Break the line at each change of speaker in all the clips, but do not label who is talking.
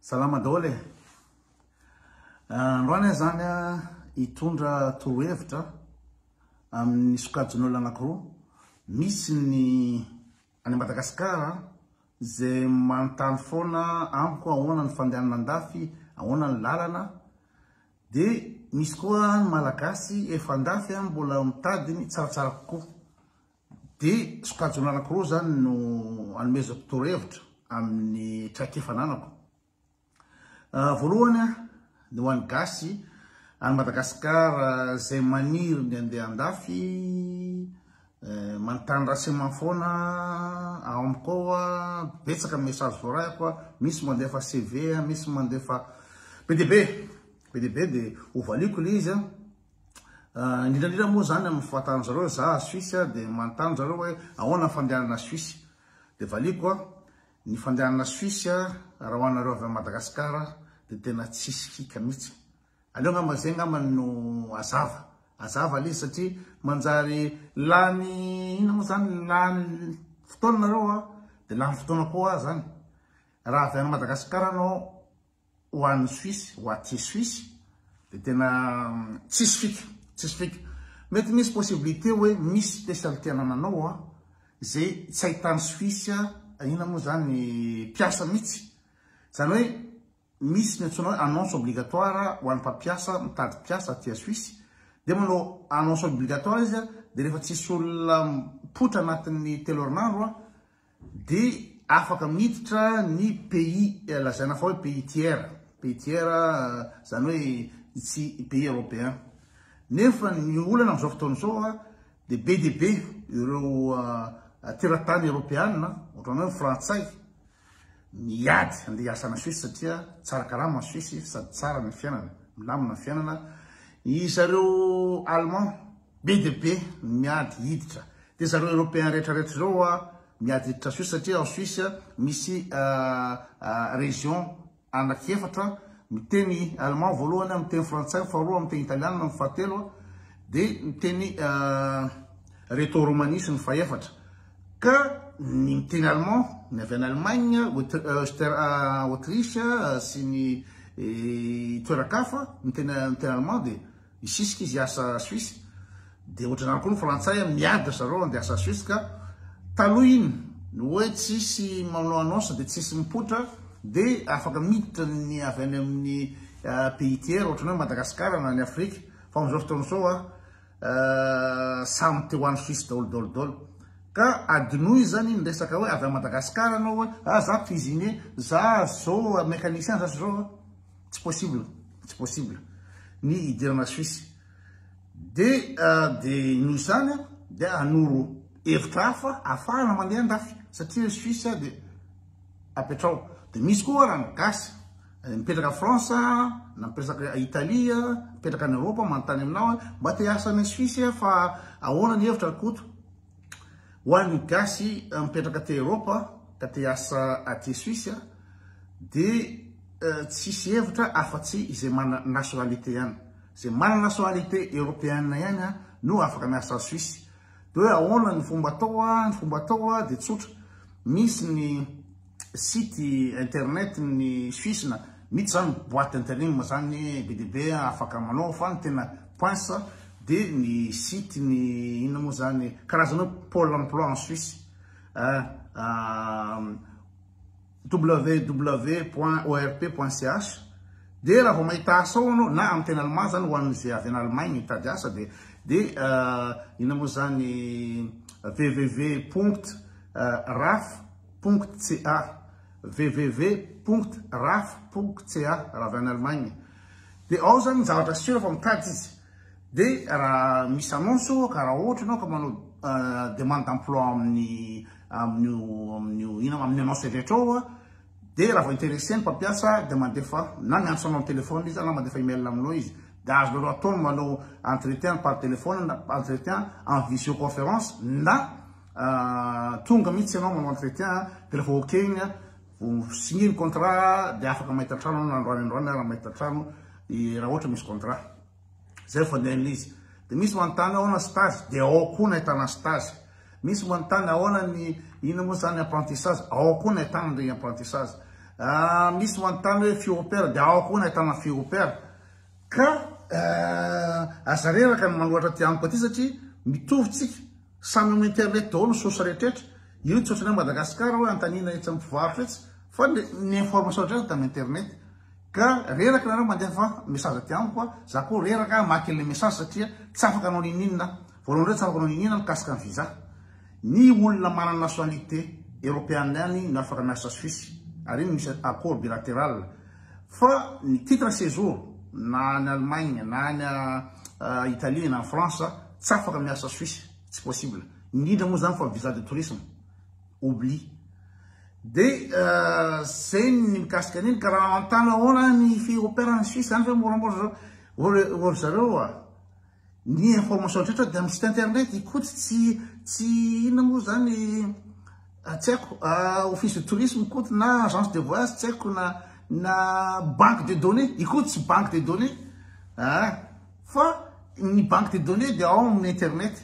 Salama daholo e. Androany aho zany hitondra torohevitra amin'ny sokajin'olona anankiroa. Misy ny any Madagasikara izay manontany foana amiko ahoana ny fandehanana andafy, ahoana ny lalana. Dia misy koa ny Malagasy efa andafy mbola mitady ny tsaratsara kokoa. Dia sokajina anankiroa izany no anomezako torohevitra amin'ny traikefa ananako. Voalohany, ny ho an'ny gasy, any Madagasikara, izay maniry ny handeha an-dafy, manontany renseignement foana ao amiko ao, betsaka ny message voarahiko, misy mandefa CV, misy mandefa be dia be, be dia be dia hovaliako ilay izy. Indrindrandrindra moa zany amin'ny fahatan'ny zareo, za a Suisse a, dia manontany zareo hoe ahoana ny fandehanana Suisse? Dia valiako a, ny fandehanana Suisse a, raha ho anareo avy amin'i Madagasikara dia tena tsisy hika mihitsy. Aleo angamba zay angambany no azava, azava le izy satria manjary lany inona moa zany, lany fotoana nareo a, dia lany fotoana koa ho ahy zany. Raha avy any Madagasikara anao, ho an'ny Suisse, ho aty Suisse dia tena tsisy fika, tsisy fika. Mety misy possibilité hoe misy spécialité anananao a, izay tsy ahitan'ny Suisse a, inona moa izany ny mpiasa mihitsy. Izany hoe misy ny antsoina hoe annonce obligatoire ho an'ny mpampiasa mitady mpiasa aty a Suisse, dia manao annonce obligatoire izy a, dia rehefa tsisy olona mipoitra anatin'ny telo herinandro a, Dia afaka miditra ny pays lazaina fa hoe pays tiers, pays tiers izany hoe tsy pays européen. Nefa ny olana amin'izao fotoana izao dia be dia be ireo teratany eropeana, ohatran'ny hoe frantsay, miady handeha hiasa any Suisse satria tsara karama any Suisse sady tsara ny fiainana, milamina ny fiainana. Ry zareo allemand. Be dia be ny miady hiditra. Dia zareo Européens rehetra rehetra zao hoa miady hiditra Suisse satria ao Suisse misy région anaky efatra miteny allemand voalohany, miteny frantsay ny faharoa, miteny italiana ny fahatelo dia miteny reto romanisy ny fahefatra. Ka ny miteny allemand ny avy any Allemagne, Autriche sy ny toeran-kafa miteny miteny allemand dia Hisisika izy hiasa Suisse, dia ohatr'izany koa ny frantsay an, miady ry zareo handeha hiasa Suisse ka taloha iny no hoe tsy hisy manao annonce dia tsy hisy mipoitra dia afaka miditra ny avy any amin'ny pays tiers ohatrany hoe Madagascar na ny Afrique fa amin'izao fotoana izao an samy te ho any Suisse daholo daholo daholo ka adinoy izany ny resaka hoe avy any Madagascar ianao hoe ah za cuisinier, za zao mécanicien, za zao an. Tsy possible, tsy possible ny hidirana Suisse. Dia dia noho izany dia hanoro hevitra hafa afahana mandeha andafy satria Suisse dia apetrao. Dia misy koa raha ny gasy eh, mipetraka France, na mipetraka Italie, mipetraka any Europe manontany aminao mba te hiasa any Suisse fa ahoana ny hevitra ry Koto? Ho an'ny gasy mipetraka aty Eropa ka te hiasa aty Suisse dia tsisy hevitra afa tsy izay manana nationalité ihany. Izay manana nationalité Europeenne ihany no afaka miasa any Suisse. Dia hoe ahoana ny fomba atao, ny fomba atao dia tsotra, misy ny site internet ny suisse na mitsy zany boite interim zany be de be afaka manao fa ny tena poince de ny site ny inona moa zany karazana hoe pole emploi en suisse www point orp point ch de raha vao mahita asa ao anao na amin'ny tena allemand zany ho an'izay avy any allemagne mitady asa de de inona moa zany www point raf www.raf.ca, www.raf.ca raha avy any Allemagne, dia ao zany ny zavatra sur fa mitady izy, dia raha misy annonce ohatra ka raha ohatra ianao ka manao demande d'emploi amin'ny amin'io amin'io inona amin'ny annonce rehetra ao a, dia raha vao interesse ny mpampiasa dia mandefa na miantso anao am-telefaonina izy na mandefa email aminao izy, dia azonareo atao ny manao entretien par telefaonina na entretien en visioconférence na. Tonga mihitsy ianao manao entretien dia rehefa ok iny a, vao signer ny contrat dia afaka mahita trano ianao na androany androany ary mahita trano raha ohatra misy contrat. Izay no fandehan'ilay izy. Dia misy manontany ahoana stage dia ao koa no ahitana stage. Misy manontany ahoana ny inona moa izany apprentissage, ao koa no ahitana an'ireny apprentissage. Misy manontany hoe fille au pair dia ao koa no ahitana fille au pair. Ka aza reraka ny manohatra aty amiko aty satria mitovy tsika. Samy am internet daholo ny source rehetrretra, io tsy ohatran'ny hoe Madagascar hoe antanina etsy am mpivarotra etsy fa ny information rehetra dia am internet ka reraka nareo mandefa message aty amiko a, za koa reraka hamaky anle message satria tsy afaka hanao ninininona aho, voalohany indrindra tsy afaka hanao ninininona aho mikasika ny visa, ny olona manana nationalité European ihany no afaka miasa Suisse ary iny misy accord bilateral. Fa ny titre sejour na any Allemagne na any Italie na France tsy afaka miasa Suisse tsy possible indrindra moa zany fa visa de tourisme oublie de zay ny mikasika an'iny ka raha anontana ahoana ny fi-operana any Suisse any ve moramora zao ry zareo a Ny information rehetra dia amin'ny site internet ikoty tsy tsy inona moa zany tsy haiko office de tourisme ikoty na agence de voyage tsy haiko na na banque de données ikoty tsy banque de données ah fa ny banque de données dia ao amin'ny internet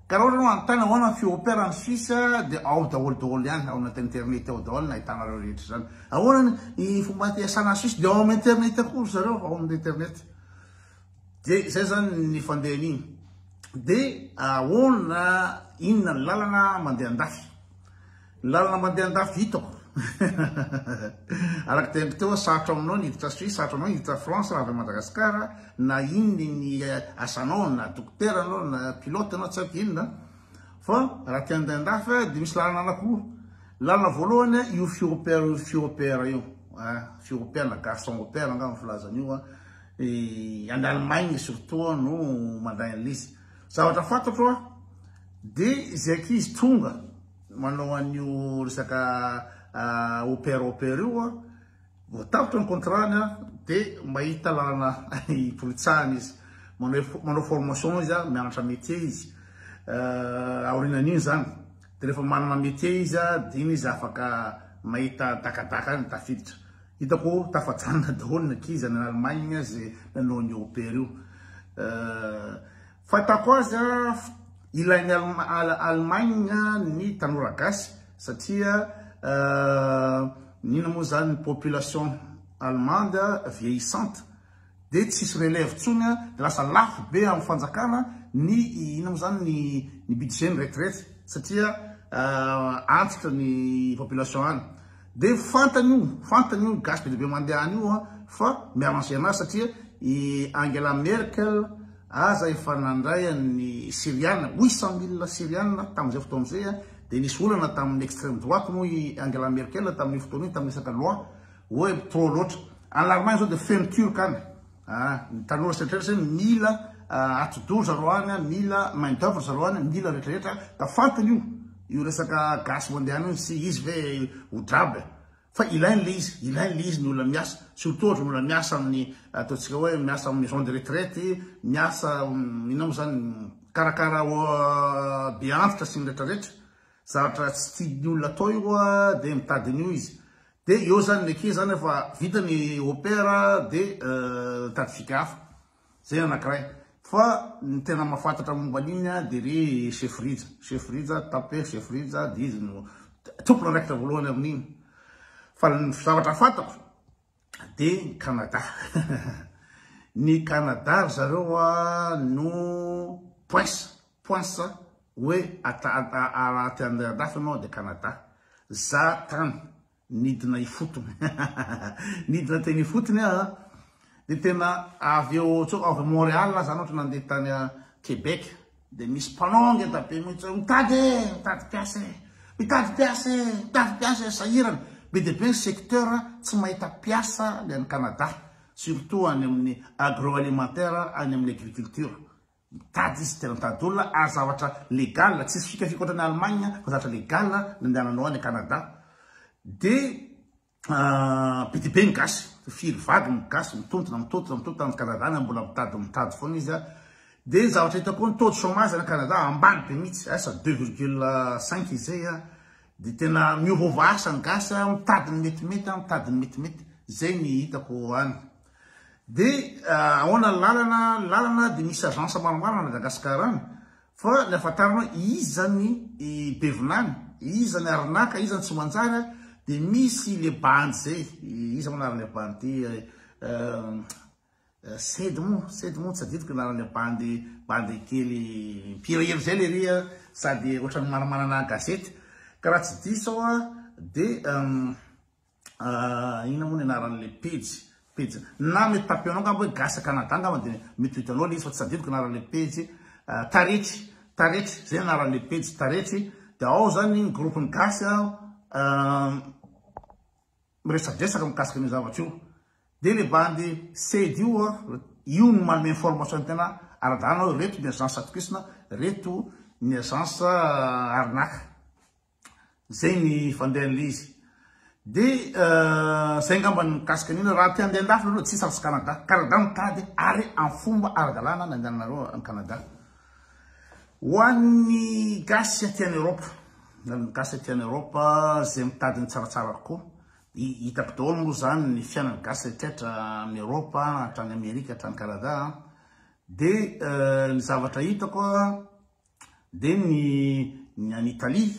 ka raha ohatra anontany ahoana ny fiopera any Suisse dia ao daholo daholo ihany ao anaty internet ao daholo no ahitanareo rehetra izany ahoana ny fomba hiasana any Suisse dia ao amin'ny internet koa ry zareo ao amin'ny internet Dia izay zany ny fandehany iny. Dia ahoana inona ny lalana mandeha andafy? Ny lalana mandeha andafy hitako. Araka teny teo hoe sarotra aminao ny hiditra Suisse, sarotra aminao ny hiditra France raha avy Madagascar na inona ny asanao na dokotera anao na pilote anao tsy haiko inona fa raha te handeha andafy dia misy lalana anakiroa. Lalana voalohany io firopera io, firopera io, firopera na garçon au père angamba ny filazana io Dia any Allemagne surtout no mandray an'ilay izy. Zavatra fantatro dia izay ankizy tonga manao an'io resaka opera opera io vao tapitra ny contrat-ny dia mahita lalana hipolitsahana izy. Manao manao formation izy, mianatra métier izy. Aorinan'iny izany dia rehefa manana métier izy dia iny izy afaka mahita dakadaka any tafiditra. Hitako tafajanona daholo ny ankizy any Allemagne ze nanao an'io opera io. Fahitako azy an, ilain'i Allemagne ny tanora gasy satria inona moa zany ny population allemande vieillissante. dia tsisy relève tsony a, dia lasa lafo be am fanjakana ny inona mo zany ny ny budget ny retirety satria antitra ny population any dia fantany io fantany io gasy be dia be mandeha any io a fa mi arranger anazy satria i Angela Merkel aza efa nandray an ny Syriana huit cent mille Syriana tam zay fotoana zay a dia nisy olana tam ny extreme droite moa i Angela Merkel tam io fotoana io tam resaka loi Oe trop loatra. Any larmany zao dia feno turc any. Ah, ny tanora sy retraretra zany mila atidoha zareo any an, mila main d'oeuvre zareo any an, mila retraretra an, da fantany io. Io resaka gasy mondial io tsy izy ve ho draba e. Fa ilainy le izy, ilainy le izy ny olona miasa, surtout ohatra ny olona miasa amin'ny ataontsika hoe miasa amin'ny maison de retraite, miasa inona mo zany mikarakara be antitra sy ny retraretra, zavatra tsy tian'ny olona atao io an, dia mitady an'io izy. Dia eo zany ny eke zany efa vita ny opera dia tadidiaka hafa. Zay anankiray. Fa ny tena mahafantatra momba an'iny a dia ry chef Rija. Chef Rija, taper chef Rija dia izy no tompony raikitra voalohany amin'iny. Fa ny zavatra fantako dia ny Canada. Ny Canada ry zareo a no prince Poinsa hoe raha te handeha andafy ianao dia Canada. Za tany nidina ifotony nidina teny ifotony aho a! dia tena avy eo avy ao Montréal aho zany ohatra nandeha tany Québec dia misy mpanao ngeda be mihitsy hoe mitady e! mitady mpiasa e! mitady mpiasa e! mitady mpiasa e! sahirana be dia be ny secteur tsy mahita mpiasa ny any Canada surtout any amin'ny agroalimentaire any amin'ny agriculture Mitady izy tena mitady olona ary zavatra legal tsisy fikafika ohatran'ny Allemagne fa zavatra legal nandehananao any Canada dia Ah, be dia be ny gasy, firy vague ny gasy mitontona, mitontona, mitontona any Canada any, mbola mitady, mitady foana izy an. Dia ny zavatra hita koa ny taux de chômage any Canada ambany be mihitsy, asa ah, deux virgule cinq izay an. Ah. Dia tena miova asa ny gasy, mitady ny metimety, mitady ny metimety, izay ny hitako any. Dia ahoana ny lalana? Ny lalana dia misy agence maromaro any Madagascar any fa ny ahafantarana hoe iza ny be vinany, iza ny arnaka, iza ny tsy manjary a, dia misy le bandy zay, iza moa anaran'ilay bandy sedy moa, sedy moa, tsy adidiko ny anaran'ilay bandy, bandy kely mpihirahira zay lery a, sady ohatran'ny manamanana gazety ka raha tsy diso aho a dia. Ah, inona moa ny anaran'ilay pejy? Pejy na mety tapeo anao angamba hoe Gasy Canada angamba dia mety ho hitanao ilay izy fa tsy tadidiko ny anaran'ilay pejy. Ah, taretry, taretry, izay ny anaran'ilay pejy, taretry. Dia ao izany ny groupe ny Gasy ah, miresadresaka mikasika an'io zavatra io. Dia ilay bandy Sed io, io no manome information tena ara-dalana hoe reto ny agence atokisana, reto ny agence ah, arnaque. Zay ny fandehan'ilay izy. Dia zay angamba ny mikasika an'io, raha te handeha an-dafy nareo tsy sarotra Canada. Canada mitady ary amin'ny fomba ara-dalàna ny handehananareo any Canada. Ho an'ny gasy aty any Europe, na ny gasy aty any Europe zay mitady ny tsaratsara kokoa, hitako daholo moa zany ny fiainan'ny gasy rehetra rehetra amin'ny Europe hatrany Amerika hatrany Canada. Dia ny zavatra hitako Dia ny ny any Italie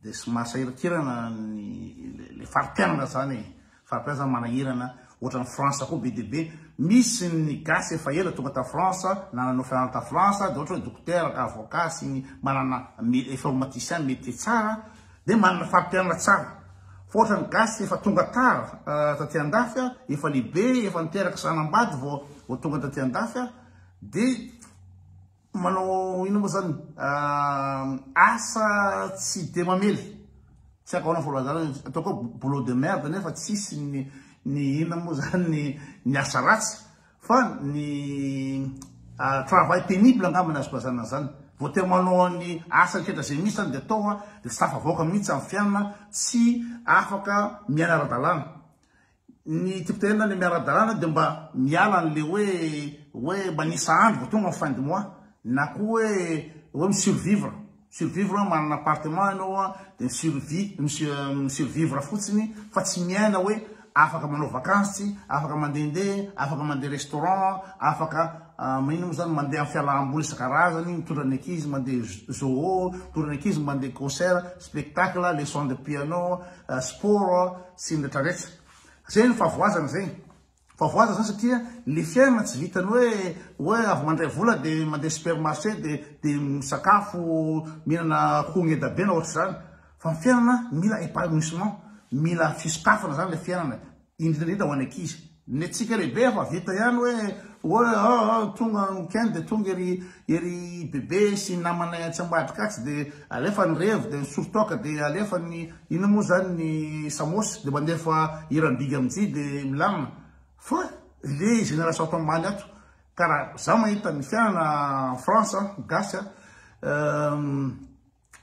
dia somary sahirankirana ny le fari-piainana izany e, fari-piainana izany manahirana, ohatran'i France koa be dia be, misy ny gasy efa ela tonga tao France na nanao fianarana tao France dia ohatra hoe dokotera ka avocat sy ny manana informaticien métier tsara dia manana fari-piainana tsara, fa ohatran'ny gasy efa tonga tara taty andafy a, efa lehibe, efa niteraka zanambady vao vao tonga taty andafy a dia. Manao inona moa zany asa tsy dia mamely. Tsy haiko ahoana fahalazana izy. Ataoko hoe boulot de merde nefa tsisy ny ny inona moa zany ny ny asa ratsy fa ny travail pénible angamba ny azoko lazana an'izany. Vao te manao ny asa rehetra izay misy zany dia atao dia tsy tafavoaka mihitsy amin'ny fiainana, tsy afaka miaina ara-dalàna. Ny tipotehinona le miara dalàna de mba miala anle hoe hoe manisa andro vao tonga ny fin de mois na koa hoe hoe mi survivre survivre hoe manana appartement enao a de mi survie mi survivre fotsiny fa tsy miaina hoe afaka manao vacance tsy afaka mandehandeha afaka mandeha restaurant afaka maninona moa zany mandeha am fialamboly isan-karazany mitondra ny ankizy mandeha zoo mitondra ny ankizy mandeha concert spectacle leçon de piano sport sy ny rehetra rehetra zay ny favoazana zay favoazana zany satria ny fiainana tsy vitany hoe hoe avy mandray vola de mandeha supermarché de de misakafo mihinana akoho ngeda be na ohatr'izany fa ny fiainana mila épanouissement mila fisokafana zany le fiainana indrindra indrindra ho an'ny ankizy. Ny antsika lehibe efa vita ihany hoe hoe ah, ah, ah, tonga weekend dia tonga ery ery bebe sy ny namanay atsy ambadika atsy dia alefa ny revy dia ny sory-toaka dia alefa ny inona moa izany ny samosy dia mandefa hiram-bigy amin'jy dia milamina fa le génération ato ambany ato ka raha za mahita ny fiainana en France gasy a euh,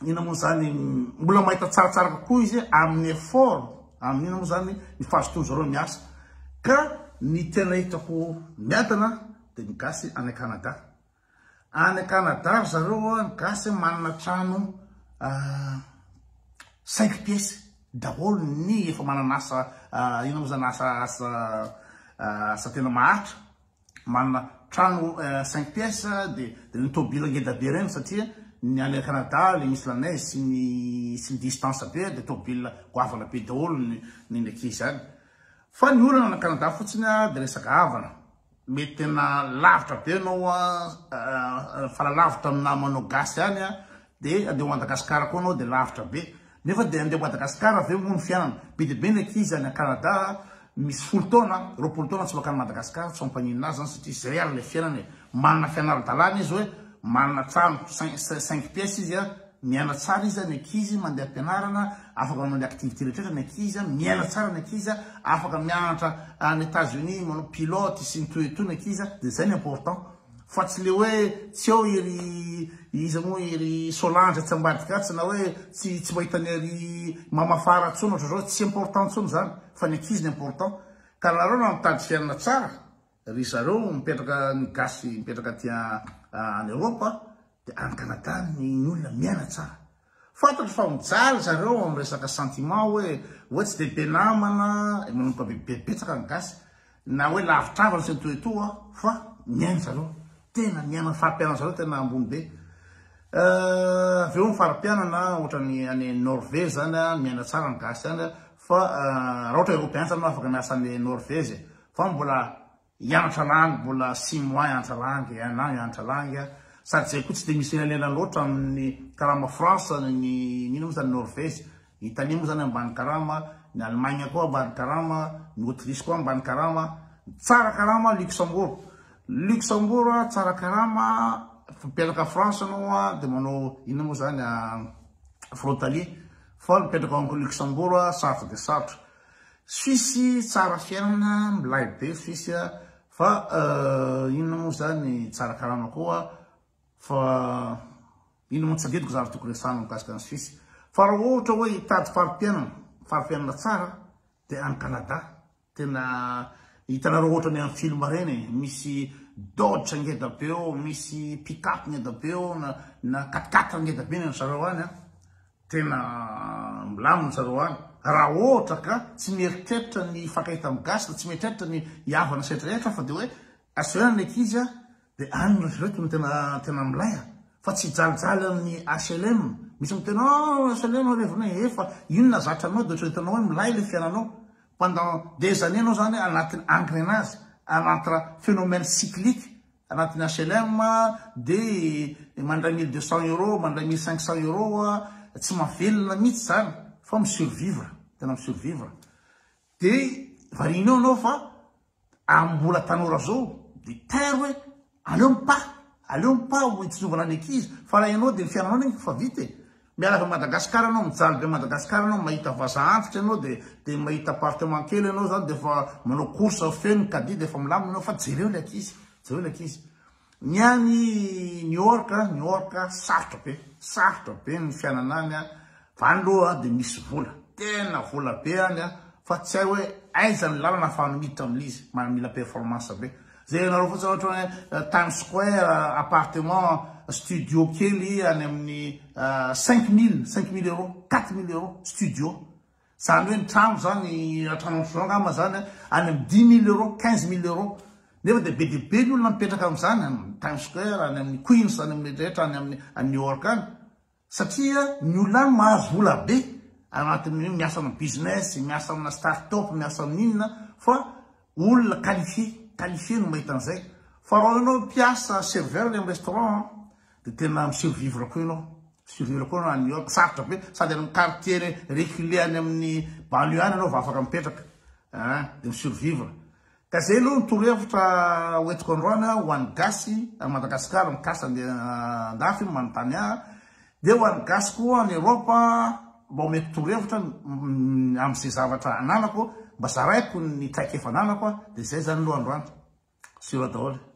ina moa zany mbola mahita tsaratsara kokoa izy amin'ny effort amin'ny ina moa zany ny fahazotoan zareo miasa ka ny tena hitako miadana dia ny gasy any Canada any Canada ry zareo a ny gasy manana trano ah, cinq pièces daholo ny efa manana asa ah, ina moa zany asa asa ah, asa tena maharitra manana trano cinq pièces dia ireny tôbila ngeda be ireny satria ny any Canada ilay misy la neige sy ny sy ny distance be dia tôbila goavana be daholo ny ny ny ankizy any fa ny olana any Canada fotsiny dia resaka havana mety tena lavitra be ianao fa la lavitra amin'ny namanao gasy any De andeha Madagascar koa anao de lavitra be nefa de andeha Madagascar ve moa ny fiainana be de be ny ankizy any Canada misy folo taona roapolo taona tsy makany Madagascar tsy mampaninona azy zany satria zay ary le fiainana e manana fianara dalana izy oe manana trano cinq pièces izy a miaina tsara izy a ny ankizy mandeha am-pianarana afaka manao ny activité rehetra ny ankizy a miaina tsara ny ankizy a afaka mianatra any Etats Unis manao pilote sy ny toy ny toy ny ankizy a de zay ny important Fa tsy le hoe tsy eo i ry iza moa i ry Solange atsy ambadika atsy na hoe tsy tsy mahita an'i ry Mama Fara intsony ohatr'izao, tsy important intsony izany fa ny ankizy no important. Ka nareo raha mitady fiainana tsara ry zareo mipetraka ny gasy mipetraka aty any Europe dia any Canada ny olona miaina tsara. Fantatro fa mijaly zareo amin'ny resaka sentiment hoe hoe tsy dia be namana, manomboka be be betsaka ny gasy na hoe lavitr'havana sy ny toy toa fa miaina zareo tena miaina ny fari-piainana zareo tena ambony be avy eo ny fari-piainana ohatran'ny any Norvege zany miaina tsara ny gasy any fa raha ohatra Eoropean zany no afaka miasa any Norvege fa mbola I Antra Langy mbola six mois Antra Langy, un an i Antra Langy a, sady zay koa tsy dia misy elanelan loatra amin'ny karama France ny inona moa zany Norvège, Italie moa zany ambany karama, ny Allemagne koa ambany karama, ny Autriche koa ambany karama, tsara karama Luxembourg, Luxembourg tsara karama mipetraka France anao a dia manao inona moa zany frontalier, fa mipetraka ao Luxembourg sarotra dia sarotra. Suisse tsara fiainana milay be suisse a fa inona moa zany tsara karama koa fa inona moa tsy adidiko zany tokony resahana mikasika an'i suisse fa raha ohatra hoe hitady faripiainana faripiainana tsara dia any Canada tena hitanareo ohatra ny amin'ny film ireny e misy dodge ngeda be eo misy pick up ngeda be eo na na quat quatre ngeda be ny an-dry zareo any a Tena milamina zareo any raha ohatra ka tsy mieritreritra ny hifankahita amin'ny gasy na tsy mieritreritra ny hihavana sy aiza aiza fa dia hoe asehonana ny ankizy a dia any ry reto no tena tena milay a fa tsy hijalijaly amin'ny HLM misy miteny oh HLM alevina e efa inona zatra anao dia ohatra hitanao hoe milay ilay fiainanao pendant des années ianao izany anaty engrenage anaty phénomène cyclique Anatin'ny HLM dia mandray mille deux cents euros, mandray mille cinq cents euros, tsy mahavelona mihitsy izany fa mi survivre, tena mi survivre. Dia varianao ianao fa amin'ny mbola tanora izao dia tain hoe aleo mipaha, aleo mipaha ho itsinjovana ny ankizy fa raha ianao dia ny fiainanao anie efa vita e. Miala avy Madagascar anao mijaly be Madagascar anao mahita vaza antitra anao de de mahita appartement kely anao zany de fa manao course feno ny caddie de fa milamina anao fa jereo le ankizy jereo le ankizy ny any New York New York sarotra be sarotra be ny fiainana any fa any loha de misy vola tena vola be any fa tsy hay hoe aiza ny lalana fa miditra amin'izy mila performance be Jerenareo fotsiny ohatra hoe Times Square, appartement, studio kely any amin'ny cinq mille, cinq mille euros, quatre mille euros, studio. Zany hoe ny trano zany, trano antrozao angamba zany, any amin'ny dix mille euros, quinze mille euros. Nefa dia be dia be ny olona mipetraka amin'izany, any amin'ny Times Square, any amin'ny Queens, any amin'ny rehetra, any amin'ny New York any. Satria ny olona any mahazo vola be anatin'ny hoe miasa amin'ny business, miasa amina start up, miasa amin'ny inona fa olona qualifié, qualifié no mahita an'izay. Fa raha ianao mpiasa serveur any amin'ny restaurant an, dia tena mi-survivre koa ianao, survivre koa ianao any New York, sarotra be, sady any amin'ny quartier reculé any amin'ny banlieue any ianao vao afaka mipetraka, ah dia mi-survivre. Ka zay aloha ny torohevitra hoentiko androany a, ho an'ny gasy any Madagascar mikasa andeha andafy manontany ahy, dia ho an'ny gasy koa any Europe mba omeko torohevitra amin'izay zavatra ananako, mba zaraiko ny traikefa ananako a, dia zay zany aloha androany, sura daholo e.